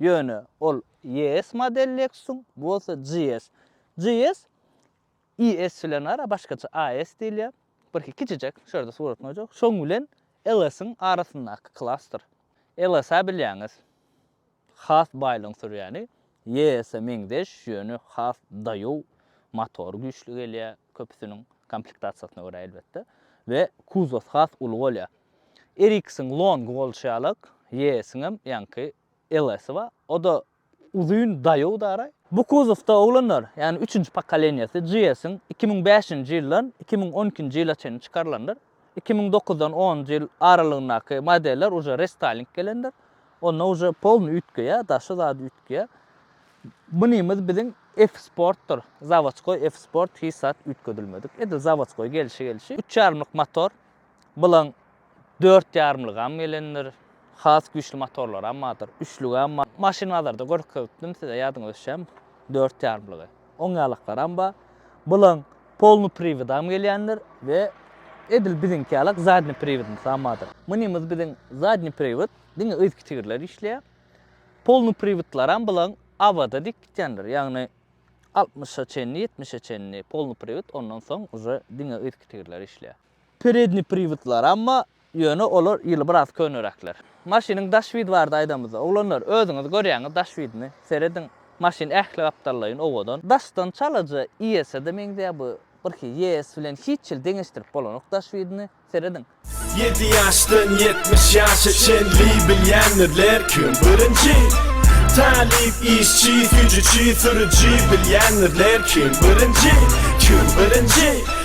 Ýöne ol ES model Lexus-yň, bu bolsa GS. GS ES bilen ara başgaça AS diýilýär. Birki kiçijek, şu ýerde suratyny goýjak. Şoň bilen LS-iň arasyndaky klasdyr. LS-ä bilýäňiz, has baýlygyň sürýäni, ES-e meňzeş, ýöne has daýaw, motory güýçli gelýär. köpüsiniň komplektasiýasyna görä elbetde, we kuzos has uly bolýar. Ericsson Long bolşy ýalak, YS-iňem ýaňky LS-i bar, o-da uzyn daýaw daraý. Bu kuzosda oglanlar, ýagny üçünji pokoleniýasy GS-iň iki müň bäşinji ýyldan iki müň on ikinji ýyla çenli çykarylandyr. iki müň dokuzdan onunjy ýyl aralygyndaky modeller uje restyling gelendir. Onda uje polny üýtgeýär, daşy zady üýtgeýär. Mynymyz biziň F-sportdyr. Zawoçkoý F-sport hiç zat üýtgedilmedik. Edil zawoçkoý gelşi gelşi. Üç ýarymlyk motor. Bylaň dört ýarymlygam gelendir. Has güýçli motorlaram bardyr. Üçlügem bar. Maşyn bazarda görkezipdim size ýadyňyza düşýärmi? Dört ýarymlygy. Oň ýalaklaram bar. Bulan polny priwidam gelýändir we edil biziňki ýalak zadny priwidnisam bardyr. Munymyz biziň zadny priwid diňe yzky tigirler işleýär. Polny priwidlaram bulan awada dek gitýändir. Ýagny altmyşa çenli, ýetmişe çenli polny priwid ondan soň uje diňe yzky tigirler işleýär. Peredniý priwodlar, amma ýöne olar ýyly biraz köneräkler. Maşynyň daş widi barada aýdamyzda, oglanlar, özüňiz görýäňiz daş widini, serediň, maşyn ähli gapdallaýyn owadan. Daşdan çalaja IS-de meňzeýär bu, birki IS bilen hiç hili deňeşdirip bolanok daş widini, serediň. Ýedi ýaşdan ýetmiş ýaşa çenli bilýändirler kim birinji? Talyp, işçi, süýjüçi, sürüji bilýändirler kim birinji? Kim birinji?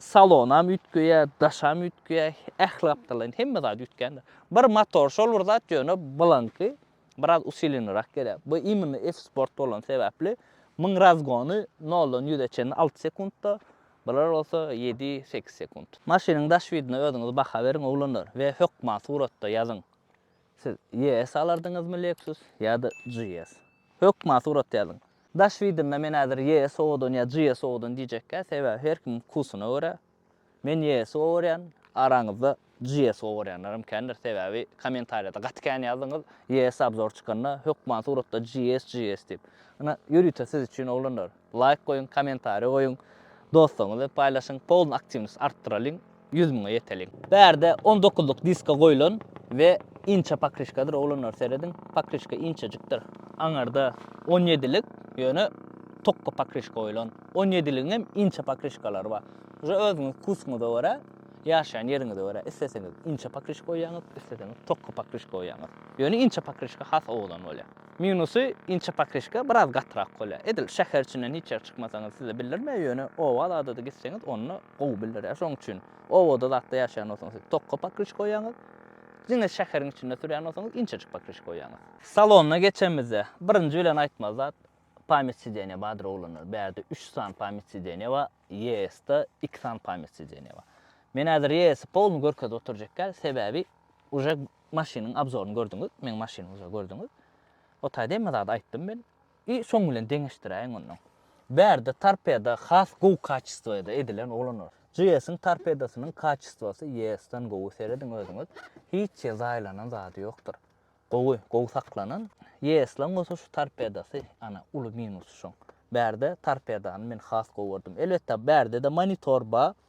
Salonam üýtgeýä, daşam üýtgeýä, ähli gapdallaýyn hemme zat üýtgändir. Bir motor şol bir zat ýöne bulaňky biraz usilenirek gelýär. Bu imini F-Sport bolany sebäpli müň razgony noldan ýüze çenini alty sekuntda, bular bolsa ýedi, sekiz sekunt. Maşynyň daş widine özüňiz baha beriň oglanlar we hökman suratda ýazyň. Siz ES alardyňyzmy Lexus ýa-da GS? Hökman surat ýazyň. Daş wideomda men häzir ES owadan ýa GS owadan diýjekkä, sebäbi her kimiň wkusyna görä. Men ES-i owarýan, araňyzda GS owarýanlaram kändir, sebäbi kommentariýada gaty kän ýazdyňyz, ES obzor çykanda hökman suratda GS, GS diýip. Ine, ýörite siz üçin oglanlar. Laýk goýuň, kommentariýa goýuň, dostlaryňyza paýlaşyň, polny aktiwnost artdyralyň, ýüz müňe ýeteliň. Bärde on dokuzlyk diska goýlan we inçe pokryşkadyr oglanlar serediň pokryşka inçejikdir aňarda on ýedilik ýöne tokga pokryşka goýlan on ýediligiňem inçe pokryşkalary bar uje özüňiz wkusyňyza görä ýaşaýan ýeriňize görä isleseňiz inçe pokryşka goýýaňyz isleseňiz tokga pokryşka goýýaňyz ýöne inçe pokryşka has owadan bolýar. Minusy inçe pakryşka biraz gatyrak bolýar. Edil şäher içinden hiç ýere çykmasaňyz size bildirmeýär, ýöne oba zada-da gitseňiz onda gowy bildirýär. Şonuň üçin obada zatda ýaşaýan bolsaňyz siz tokga pakryşka goýýaňyz. Diňe şäheriň içinde sürýän bolsaňyz inçejik pakryşka goýýaňyz. Salona geçenimizde birinji bilen aýtmaly zat pamýat sideniýa bardyr oglanlar. Bärde üç sany pamýat sideniýa bar, ES-de iki sany pamýat sideniýa bar. Men häzir ES-i polny görkezip oturjak däl, sebäbi uje Maşynyň abzoryny gördüňiz, meň maşynymy uje gördüňiz. O taýda hemme zady aýtdym men. I soň bilen deňeşdiräýiň onnoň. Bärde torpeda has gowy kaçestwoda edilen oglanlar. GS-iň torpedasynyň kaçestwosy ES-den gowy serediň özüňiz. Hiç ýer zaýalanan zady ýokdur. Gowy, gowy saklanan. ES-laň bolsa şu torpedasy ana uly minusy şoň. Bärde torpedany men has gowy gördüm. Elbetde bärde-de monitor bar.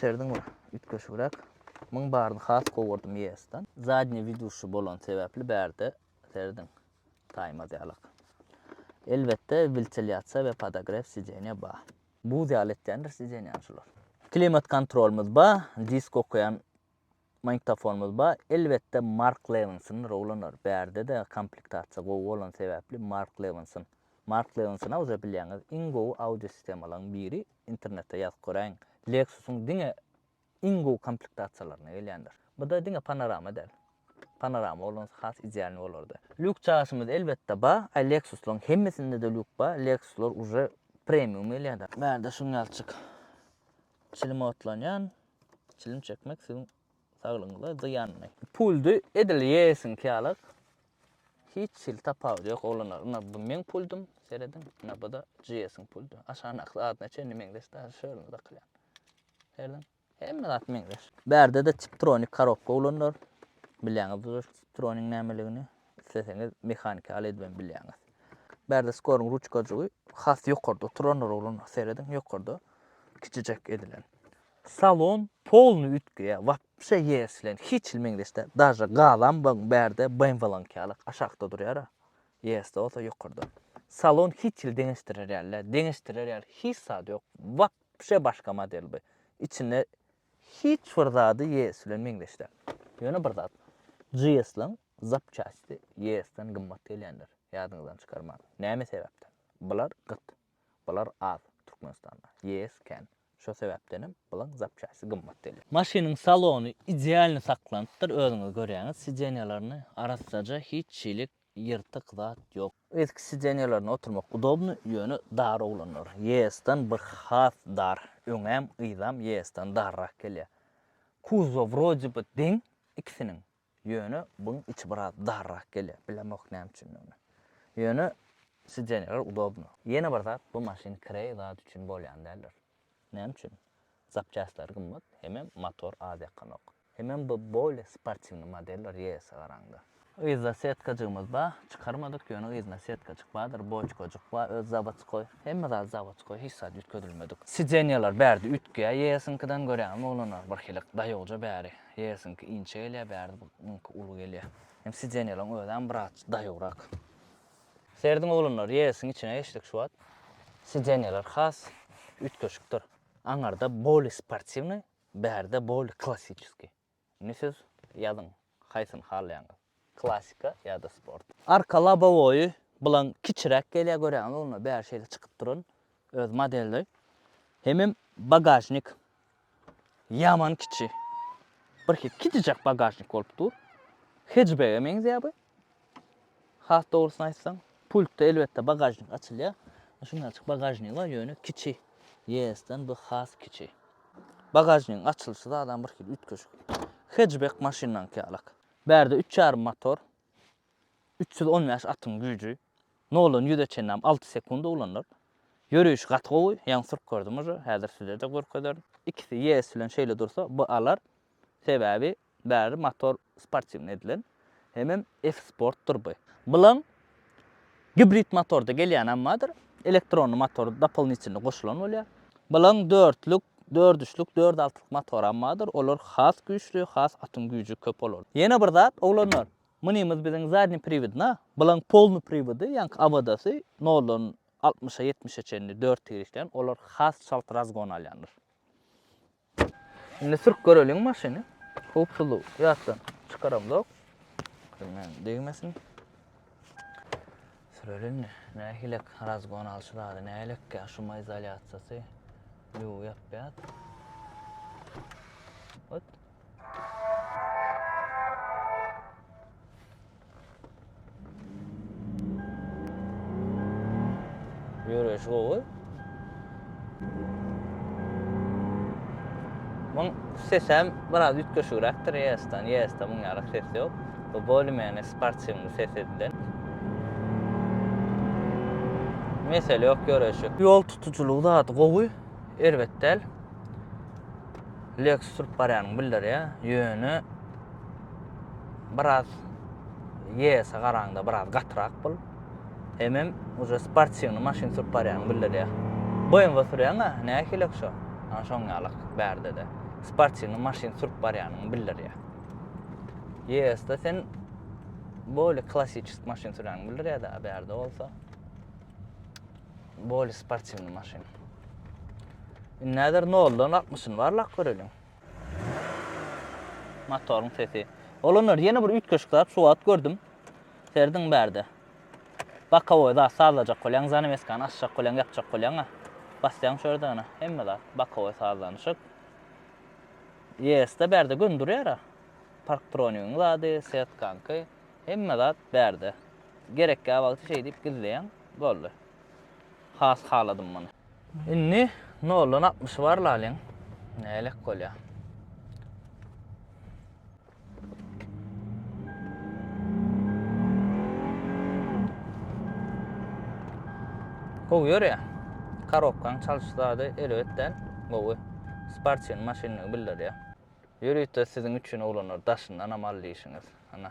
Serdiň bir üýtgeşigräk. Muň baryny has gowurdym ýesdan. Zadnýe widuşy bolan sebäpli bärde serdiň. Taýmaz ýalak. Elbetde wiltilýasiýa we podogrew sideniýa ba. Buz ýaly etýändir sideniýany şular. Klimat kontrolymyz ba, disk okaýan Magnitofonymyz bar, elbetde Mark Lewinson rowlanar, bärde-de komplektasiýa gowy bolan sebäpli Mark Lewinson. Mark Lewinson-a uza bilýäňiz iň gowy audio sistemalaryň biri, internetde ýazyp göräýiň, Lexus-yň diňe iň gowy komplektasiýalarynda gelýändir. Bu-da diňe panorama däl. Panorama bolans has idealnyý bolardy. Lýuk çaşymyz elbetde bar, a Lexus-laryň hemmesinde-de lýuk bar, Lexus-lar uje premium gelýär-de. Bärde şuň ýalçyk çilim otlanýan, Çilim çekmek siziň saglygyňyza zyýanly. Puldy edil ýeýesiň kýalak. Hiç hili tapawudy ýok oglanlar. Ina bu meň puldym, serediň. Ina bu-da GS-iň puldy. Aşagyndaky zadyna çenli meňzeş daşy şöyle dakylýan. Serediň. Hemme zat meňzeş. Bärde-de Tiptronic korobka oglanlar. Bilýäňizdir Tiptroniň nämeligini. Isleseňiz mehaniki al edibem bilýäňiz. Bärde skoryň ruçkajygy has ýokarda oturanlar oglanlar serediň ýokarda kiçijek edilen. Salon polnyý üýtgeýär wapşe ýeris bilen hiç hili meňzeş däl daže gazam bagyň bärde BMW-niňki ýaly aşakda durýara ýerisde bolsa ýokarda. Salon hiç hili deňeşdirer ýaly däl deňeşdirer ýaly hiç zat ýok wapşe başga model bu içinde hiç bir zady ýeris bilen meňzeş däl. Ýöne bir zat GS-niň Zapçasti ýesden gymmat gelýändir, ýadyňyzdan çykarmaň. Näme sebäpden? Bular gyt. Bular az, Türkmenistanda. Ýes kän. Şo sebäpdenem bulan zapçasti gymmat gelýär. Maşynyň salony idealny saklanypdyr, özüňiz görýäňiz. Sidenýalaryny arassaja, hiç şeýlik ýyrtyk zat ýok. Eski sidenýalaryna oturmak udobny, ýöne dar oglanlar. Ýesden bir has dar. Öňem, yzam ýesden darrak gelýär. Kuzow wrodiby deň ikisiniň. Ýöne buň içi biraz darrak gelýär, bilemok näme üçindigini. Ýöne sideniýalar udobno. Ýene bir zat bu maşyn kireý zat üçin bolýan däldir. Näme üçin? Zapçastlar gymmat, hemem motor az ýakanok. Hemem bu bolýa sportiwny modeller ýeýesä garaňda. Yzda setkajygymyz bar, çykarmadyk, ýöne yzynda setkajyk bardyr, boçkajyk bar, öz zawodskoý, hemme zat zawodskoý, hiç zat üýtgedilmedik. Sideniýalar bärde üýtgeýär ýeýesiňkiden, görýäňizmi oglanlar, birhilik daýowja bäri. Hesiňki inçe gelýär bärde bu muňky uly gelýär. Hem sidenýalaň özem biraz daýawrak. Serediň oglanlar resiň içine geçdik şu wagt. Sidenýalar has üýtgeşikdir. Aňarda boli sportiwnyý, bärde boli klassiçeskiý. Indi siz ýazyň haýsyny halaýaňyz. Klasika ýa-da sport. Arka lobowoýy bilen kiçiräk gelýär görýäňizmi onda bäri şeýle çykyp duran öz modeli. Hemem bagažnik ýaman kiçi. Birki kiçijek bagažnik bolup dur. Hetjbege meňzeýär bu. Has dogrusyny aýtsaň, pultda elbetde bagažnik açylýar. Şundaçyk bagažnigi bar, ýöne kiçi. ES-den bu has kiçi. Bagažnigiň açylyşy zadam birhili üýtgeşik. Hetjbek maşynlaryňky ýalak. Bärde üç ýarym motor, üç ýüz on bäş atyň güýji, noldan ýüze çenäm alty sekunda ulanylar. Ýörişi gaty gowy, ýaňy sürüp gördüm uje, häzir size-de görkezerin. Ikisi ýees bilen şeýle dursa, bu alar, sebäbi bäri motor sportiwnyý edilen, hemem F-sportdyr bu. Bilen Gibrid motorda gelýän ammadyr, elektronly motor dopolnitelni goşulan bolýar. Balaň dörtlük, dördüçlük, dört altylyk motory ammadyr, olar has güýçli, has atyň güýji köp olarda. Ýene bir zat, oglanlar, mynymyz biziň zadny priwidna, balaň polny priwidi, ýaňky Awodasy, noldan altmyşa, ýetmişe çenli dört tigriklän, olar has çalt razgon alýandyr. Indi sürüp göreliň maşyny. Howpsuzlyk ýatdan çykaramzok. Bilmän degmesin. Sürelin. Nähilek razgon alşy zady nähilek ýa şu izolýasiýasy. Ýu ýapýat. Ot. Ýöreýşi gowy. Muň sesem biraz üýtgeşigräkdir ES-den. ES-de muň ýaly ses ýok. Bu bolymene sportiwny ses edilen. Mesele ýok ýöreýşi. Ýol tutujylygy zady gowy, erbet däl. Lexus sürüp barýanyňy bildirýär. Ýöne biraz YS-e garaňda biraz gatyrak bul. Hemem uje sportiwny maşyn sürüp barýanyňy bildirýär. BMW sürýäň-ä, nähili ki şo? Ana şoň ýalak bärde-de. Sportiwny maşyn sürüp barýanyňy bildirýär. YS-de sen bolý klassiçesk maşyn sürýäňi bildirýär-dä, bärde bolsa. Boli sportiwny maşyn. Indi näder 0-dan 60-ny barlap göreliň. Motoryň sesi. Olanlar ýene bir üýtgeşik zat şu wagt gördüm. Serdiň bärde. Bakowoý zat sazlajak bolýaň, zanaweskany açjak bolýaň, ýapjak bolýaň-a. Basýaň şu ýerde ana, hemme zat, bakowoý sazlanyşyk. ES-de bärde gün durýar-a. Parktronigiň zady, setkanky, hemme zat bärde. Gerekgä wagty şeýdip gizleýäň. Boldy. Has haladym muny. Indi noldan altmyşy bar lalyň. Nälet bolýa. Gowy ýörýä. Karobkaň çalyş zady erbet däl. Gowy. Sportsion maşynyny bildirýä. Ýörite siziň üçin oglanlar daşyndanam al diýişiňiz. Ana.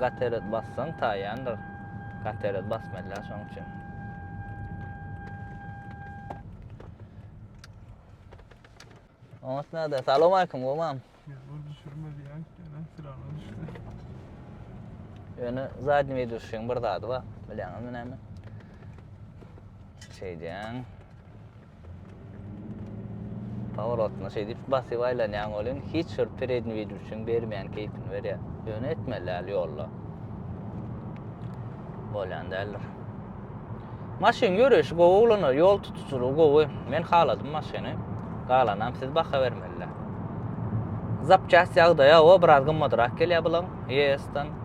Gatered bassaň taýýandyr. Gatered basmalylar şoň üçin. Oňat näde? Salam aýkym, gowam. Ýol düşürme diýýän, ýöne silana düşdi. Ýöne zadni video düşen bir zady bar. Bilýäňizmi näme? Şeýdýän. Pawrotna şeýdip basyp aýlanýaň welin hiç bir perednwidlçiň bermeýän keýpini berýär. Ýöne etmeli däl ýolda. Bolýan däldir. Maşyn ýöreýşi gowy uglana, ýol tutujylygy gowy. Men haladym maşyny. Galanam siz baha bermeli. Zapçast ýagdaýy awa biraz gymmadrak gelýär bulan ES-den.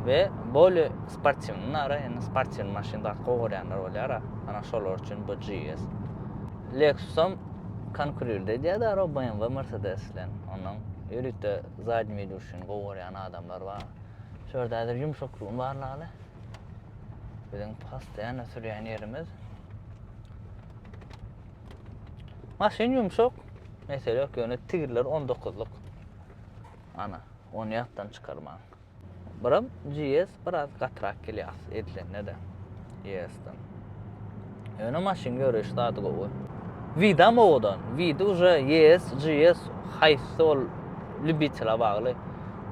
we bolý Sportiwny nara indi sportiwny maşyn zat gowy görýänler bolýara. Ana şolar üçin bu GS. Lexusam konkurirde edýär daro BMW, Mercedes bilen. Ondan ýörite zadni widuşini gowy görýän adamlar bar. Şu ýerde häzir ýumşaklygyň barlygy. Biziň postoýanna sürýän ýerimiz. Maşyn ýumşak, mesele ýok, ýöne tigirler on dokuzlyk. Ana, ony ýatdan çykarmaň. Biram GS biraz gatyrak gelýär as edilende-de ES-den. Ýöne maşyn ýöreýiş zady gowy. Widam owadan. Widi uje ES, GS haýsy ol lýubitele bagly.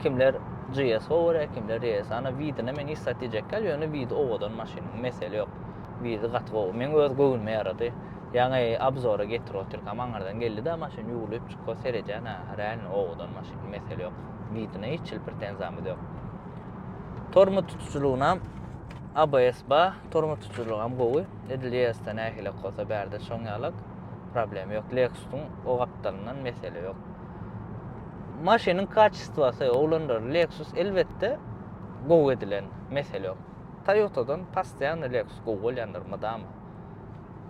Kimler GS gowy görýär, kimler ES. Ana Widine men hiç zat diýjek däl, ýöne Widi owadan maşyn, mesele ýok. Widi gaty gowy. Meň öz göwnüme ýarady. Ýaňy obzora getirip otyrkam aňyrdan geldi-de maşyn ýuwlup çykyp seredýän-ä, reально owadan maşyn, mesele ýok. Widine hiç hil pretenziyamyz yok. Tormut tutucylygynam ABS ba, tormut tutucylygam gowy. Edil ES-de nähilek bolsa bärde şoň ýalak. Problem yok. Lexus-yň o gapdalyndan mesele yok. Maşynyň kaçistwasy, oglanlar, Lexus elbetde gowy edilen, mesele yok. Toyota-dan pastiýany Lexus gowy bolýandyr, mydama.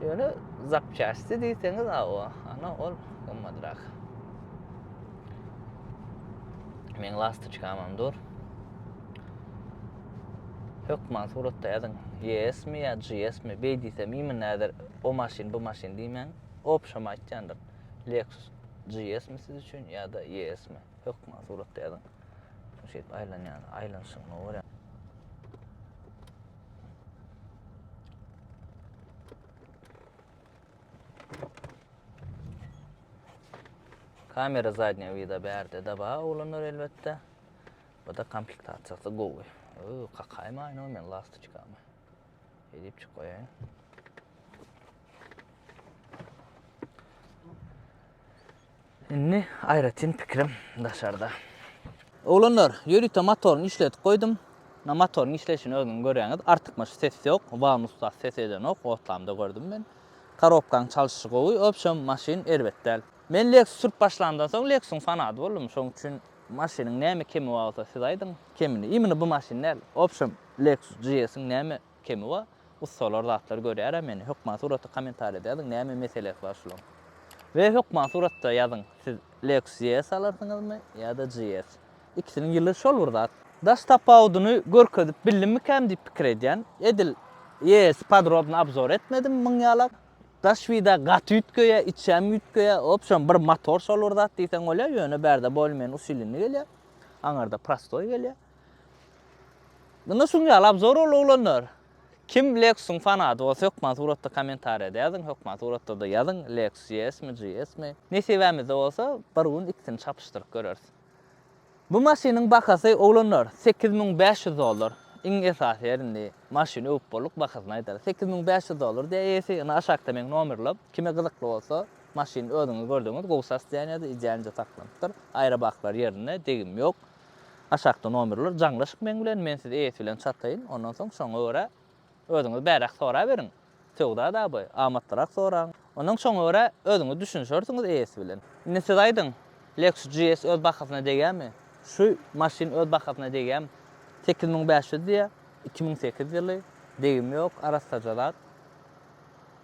Ýöne zapçasti diýseňiz, awa, ana ol gymmadrak. Men lastoçkam hem dur. Hökman suratda ýazyň. Yes mi ýa GS mi? Beý diýsem, imin näder o maşyn, bu maşyn diýmäň. Opşam aýtýandyr. Lexus GS mi siz üçin ýa-da YS mi? Hökman suratda ýazyň. Şeýip aýlanýan, aýlanyşygyny görýän. Kamera zadnýa wida bärde daba oglanlar elbetde. Bu-da komplektasiýasy gowy. Öö, kakaýmaýyn o men lastoçkamy. Edip çyk goýaýyn. Indi aýratyn pikirim daşarda. Oglanlar, ýörite motoryny işledip goýdum. Ynha motoryň işleýşini özüňiz görýäňiz. Artykmaç ses ýok. Wagon ustasy ses edenok. Otlamda gördüm men. Korobkaň çalşyşy gowy. Obşem, maşyn erbet däl. Men Lexus sürüp başlamdan soň Lexus-yň fanady boldum. Şonuň üçin maşynyň näme kemi bar bolsa siz aýdyň. Kemini, imini bu maşyn däl. Obşem, Lexus GS-iň näme Kemi ba ussalar zatlar görýärä meni hökman suratda komentarýada ýazyň näme meselesi bar şulaň. We hökman suratda ýazyň siz Lexus ES alarsyňyzmy ýada GS. Ikisiniň ýyly şol bir zat. Daş tapawudyny görkezip bildimmikäm diýip pikir edýän. Edil ES-i podrobny obzor etmedim müň ýalak. Daş wida gaty üýtgeýä içem üýtgeýä obşem bir motor şol bir zat diýseň bolýa ýöne bärde bolmen usilini gelýä aňarda prostoý gelýä. Munda şuň ýaly abzor ol oglanlar. Kim Lexus-yň fanaty bolsa hökman suratda kommentariýada ýazyň, hökman suratda-da ýazyň, Lexus GS-mi, GS-mi. Nesibämizde bolsa bir gün ikisini çapyşdyryp göreris. Bu maşynyň bahasy oglanlar sekiz müň bäş ýüz dollar. Iň esasy ýer indi maşyny öwüp bolduk bahasyny aýdarys. Sekiz müň bäş ýüz dollar diýýär eýesi. Indi aşakda meň nomerlem. Kime gyzykly bolsa maşyny özüňiz gördüňiz gowy sas diýýän ýerde idýänje saklanypdyr. Aýrabaklar ýerinde degim ýok. Aşakda nomerler jaňlaşyk meň bilen, men sizi eýesi bilen çataýyn, ondan soň şoňa görä özüňiz bäräk soraberiň, söwda daby, amatlyrak soraň, ondan şoňa görä özüňiz düşünişersiňiz eýesi bilen. Indi siz aýdyň, Lexus GS öz bahasyna degýärmi? Şu maşyn öz bahasyna degýärmi? Sekiz müň bäş ýüz diýýär, iki müň sekiz ýyly, degimi ýok, arassaja zat.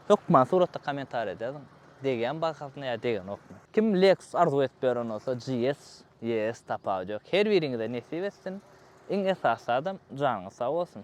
Hökman suratda kommentariýada ýazyň, degýärmi bahasyna ýa degenokmy? Kim Lexus arzuw edip ýören bolsa, GS Ýes tapawyt ýok. Her biriňize nesip etsin. Iň esasy zadam janyňyz sag bolsun.